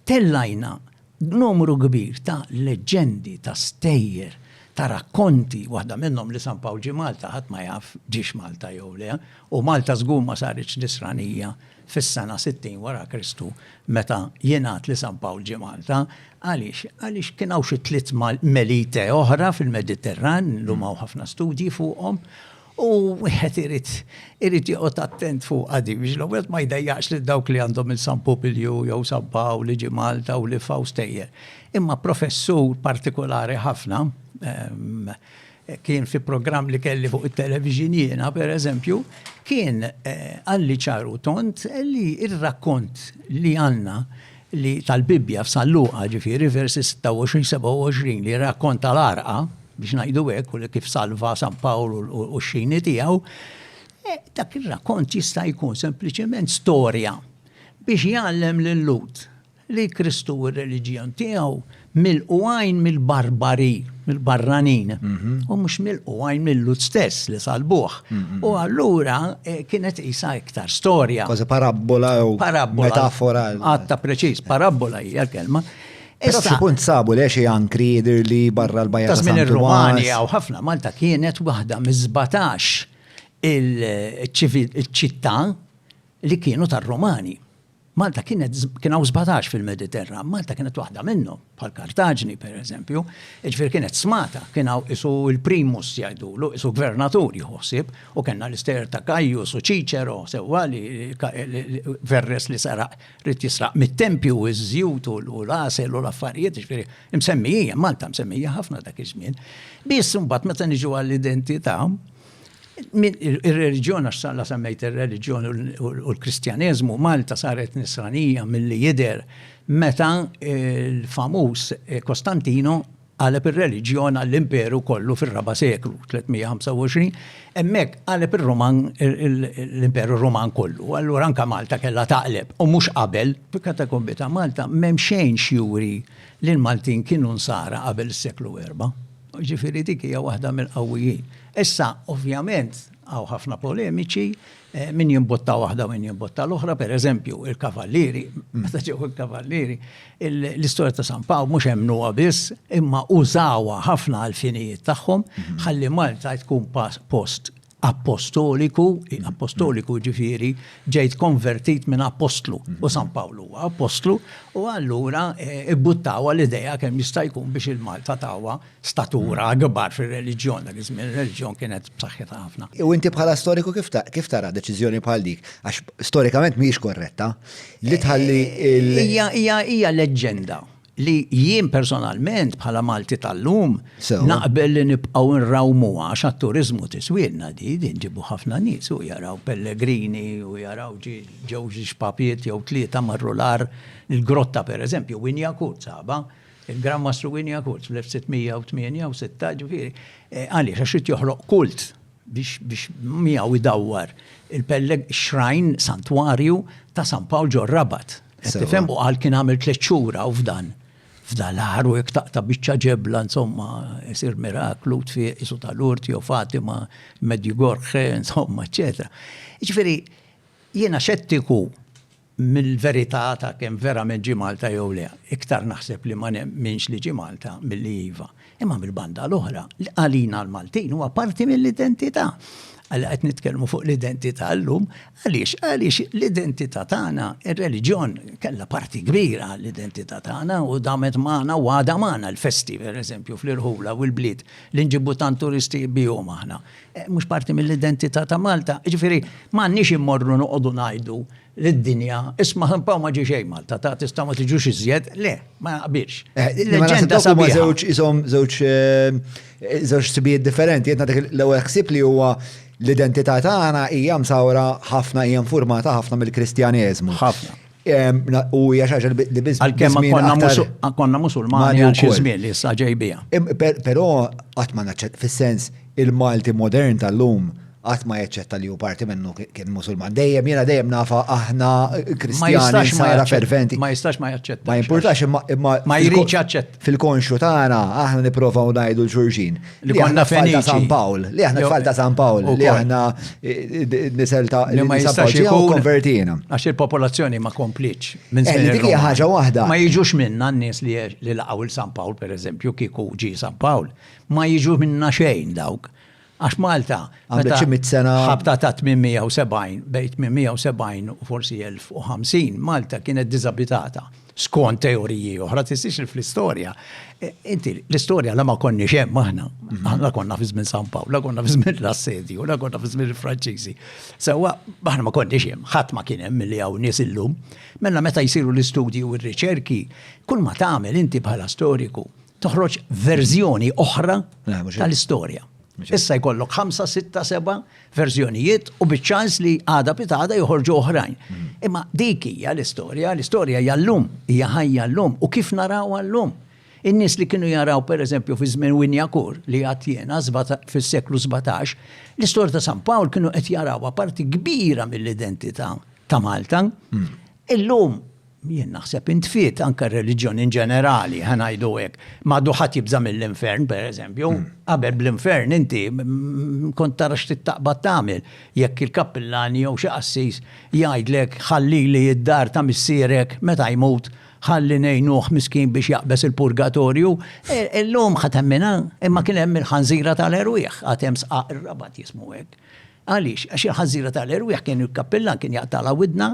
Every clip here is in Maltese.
Tellajna numru kbir ta' leġġendi, ta' stejjer, ta' rakkonti, waħda minnhom li San Pawl ġie Malta ħadd ma jaf ġiex Malta jew le, u Malta żgur ma saritx Nisranija fis-sena 60 wara Kristu meta jingħad li San Pawl ġie Malta. Għaliex? Għaliex kien hawn xi tliet Melite oħra fil-Mediterran, illum hawn ħafna studji fuqhom, U wieħed irid irid joqgħod attent fuq għadi biex l-ewwel ma jdejjaqx lil dawk li għandhom il San Popilju jew San Pawl li ġi Malta u li faw stejjer. Imma professur partikolari ħafna ehm, kien fi programm li kelli fuq it-television jiena, per eżempju, kien eh, għalli ċaru tont li il-rakkont li għanna li tal-Bibbja f'San Luqa, ġifieri versi 26, 27 li jirrakkonta l-għarqa, biex ngħidu hekk, u kif salva San Pawl u x-xini tiegħu, e, dak ir-rakkont jista' jkun sempliċement storja biex jgħallem lil Lut li Kristu u r-reliġjon tiegħu milqu għajn mill-barbari, mill-barranin, u mhux milqu għajn mill-lut stess li salbuħ. U allura eh, kienet isa iktar storja. Kważi parabola jew metafora. Għatta preċiż, parabola hija kelma. Issa xi punt sabu le xi ankri jidher li barra l-bajja ta' San Romani jew ħafna Malta kienet waħda miż-żbatax il-ċittà li kienu tar-Romani. Malta kienet kien hawn 17 fil-Mediterran, Malta kienet waħda minnhom, bħal Kartaġni pereżempju, jiġifieri kienet smata, kien hawn isu l-primus jgħidulu, isu gvernatur jħossib, u kellna l-istejjer ta' Kajjus u Ċiċero sewwa li Verres li saraq rid jisraq mit-tempju u ż-żjut u l-għasel u l-affarijiet, jiġifieri msemmija, Malta msemmija ħafna dak iż-żmien. Biss imbagħad meta niġu għall-identità, Ir-reliġjon, għax la semmejt ir-reliġjon u l-Kristjaneżmu, Malta saret nisranija milli jidher meta l-famuż Kostantino qaleb ir-reliġjon għall-imperu kollu fir-raba' seklu, 325, hemmhekk qaleb ir-Roman l-imperu Roman kollu. Allura anke Malta kellha taqleb u mhux qabel. Fil-katakombi ta' Malta m'hemm xejn x'juri li l-Maltin kienu nsara qabel is-seklu erba'. Ġifieri dik hija waħda mill-qawwijin. Issa, ovvjament, hawn ħafna polemiċi, eh, min jimbotta waħda u min jimbotta l-oħra, per eżempju, il-kavallieri, meta ġew il-kavallieri, l-istorja ta' San Paw mhux hemmnuha biss, imma użawha ħafna għal-finijiet tagħhom, mhm. ħalli Malta tkun post appostoliku, appostoliku ġifiri, ġejt konvertit minn apostlu, u San Pawlu huwa apostlu, u allura eh, ibbuttawa l-ideja kemm jista' jkun biex il-Malta tawa statura gbar fir-reliġjon, dak iż-żmien ir-reliġjon kienet b'saħħitha ħafna. U inti bħala storiku kif tara deċiżjoni bħal dik? Għax storikament mhijiex korretta. Li tħalli eh, il- Hija hija hija leġġenda. li jien personalment bħala Malti tal-lum naqbel li nibqgħu nrawmu għax għat-turiżmu tiswielna di din ġibu ħafna nies u jaraw pellegrini u jaraw ġew xi xpapiet jew tlieta marru l-ar il-grotta pereżempju Winja Kurt saba il-Gran Mastru Winja Kurt fl-1668 ġifieri eh, għaliex għax irid joħloq kult biex biex miegħu jdawwar il-pelleg xrajn santwarju ta' San Pawl ġor Rabat Tifhem u qal kien għamil tliet xhur hawn f'dan. F'dan l-aħħar u jekk taqta' biċċa ġebla insomma isir miraklu tfiq isu tal-urt jew Fatima, Medjugorje, insomma, eċetera. Ġifieri jiena xettiku mill-verità ta' kemm verament ġie Malta jew le. Iktar naħseb li ma nemminx li ġie Malta milli iva. Imma mill-banda l-oħra, għalina l-Maltin huwa parti mill-identità. Għal qed nitkellmu fuq l-identità llum, għaliex għaliex l-identità tagħna, ir-reliġjon kellha parti kbira l-identità tagħna u damet magħna u għada magħna l-festi, pereżempju fl-irħula u l-bliet li nġibu tant turisti bihom aħna. Eh, mhux parti mill-identità ta' Malta, ġifieri m'għandniex immorru noqogħdu ngħidu lid-dinja, isma' ħimpa u ma ġi xejn Malta, ta' tista' ma tiġux iżjed, le, ma naqbilx. Eh, Leġenda sabiħa. Żewġ isom żewġ eh, żewġ sibijiet differenti, qed nagħtik l-ewwel ħsieb li huwa l-identità tagħna hija msawra ħafna hija informata ħafna mill-Kristjaneżmu. Ħafna. U hija xi ħaġa li biss. Għalkemm konna musulmani għal xi żmien li issa ġejbija. Però qatt ma naċċett fis-sens Il-Malti modern tal-lum qatt ma jaċċetta li hu parti minnu kien Musulman. Dejjem jiena dejjem nafa aħna Kristjani sara ferventi. Ma jistax ma jaċċetta. Ma jimpurtax imma imma ma jridx jaċċett. Fil-konxju tagħna aħna nipprovaw ngħidu l xulxin. Li konna tfal ta' San Pawl, li aħna tfal ta' San Pawl, li aħna nisel ta' li ma jistax ikun konvertina. Għax il-popolazzjoni ma komplitx minn żmien. Dik hija ħaġa waħda. Ma jiġux minna n-nies li laqgħu l San Pawl pereżempju kieku ġi San Pawl. Ma jiġu minnha xejn dawk. Għax Malta. Għamlet xi mitt sena. Ħabta ta' 870, bejn 870 u forsi 1050, Malta kienet diżabitata. Skont teoriji oħra, tistix li fl-istorja. E, inti, l-istorja la ma konni xem aħna. Mhm. Aħna konna fi żmien San Pawl, la konna fi żmien l-assedju, la konna fi żmien il-Franċiżi. Sewa, aħna ma konni xem, ħadd ma kien hemm li hawn nies illum. Mela meta jsiru l-istudji u r-riċerki, kull ma tagħmel inti bħala storiku toħroġ verżjoni oħra tal-istorja. Issa jkollok 5, 6, 7 verżjonijiet u biċ-ċans li għada pitada joħorġu oħrajn. Mm. Imma dik hija l-istorja, l-istorja hija llum, hija ħajja llum u kif naraw llum. In-nies li kienu jaraw pereżempju fi żmien Winjakur li għad jiena fis-seklu 17, l-istorja ta' San Pawl kienu qed jarawha parti kbira mill-identità ta' Malta. Mm. Illum Jien naħseb intfiet anke r-reliġjon in ġenerali, ħa ngħidu hekk. M'għadu ħadd jibża' mill-infern, pereżempju. Qabel bl-infern inti kont tara x'trid taqbad tagħmel. Jekk il-kappillan jew xi qassis jgħidlek ħallili d-dar ta' missierek meta jmut, ħalli ngħinuh miskin biex jaqbeż il-purgatorju, illum ħa temminha? Imma kien hemm il-ħanżira tal-erwieħ, għad hemm sqaq ir-Rabat jismu hekk. Għaliex? Għax il-ħanżira tal-erwieħ kien il-kappillan kien jaqtagħlha widnha,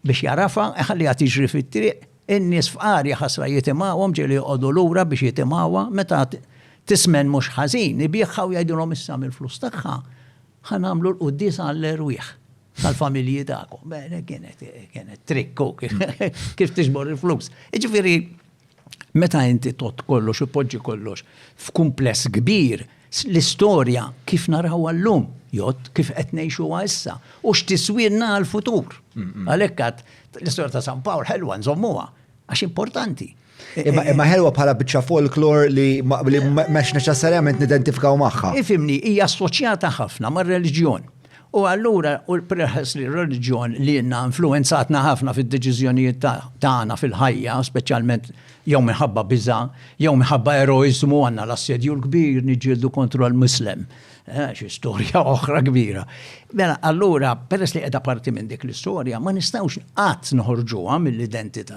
Biex jagħrafha, iħalliha tiġri fit-triq, in-nies fqar jaħasra jitimgħuhom ġieli joqogħdu lura biex jitimgħuha, meta tismen mhux ħażin, ibiegħha u jgħidilhom issa mill-flus tagħha ħa nagħmlu l-quddiesa għall-erwieħ tal-familji tagħkom. Kienet trikk hu kif tiġbor il-flus. Jiġifieri Meta inti tgħodd kollox u tpoġġi kollox f'kumpless kbir, l-istorja kif narawha llum jgħodd kif qed ngħixuha issa u x'tiswielna għall-futur. Għalhekk għad l-istorja ta' San Pawl ħelwa nżommuha għax importanti. Imma ħelwa bħala biċċa folklor li mhux neċessarjament nidentifikaw magħha. Ifhimni, hija assoċjata ħafna mar-reliġjon. U allura peress li r-reliġjon lilna influwenzatna ħafna fid-deċiżjonijiet tagħna fil-ħajja, speċjalment jew minħabba biża, jew minħabba eroiżmu għandna l-assedju l-kbir niġġieldu kontra l-Muslem. Eh, xi storja oħra kbira. Mela allura peress li qiegħda parti minn dik l-istorja ma nistgħux qatt noħorġuha mill-identità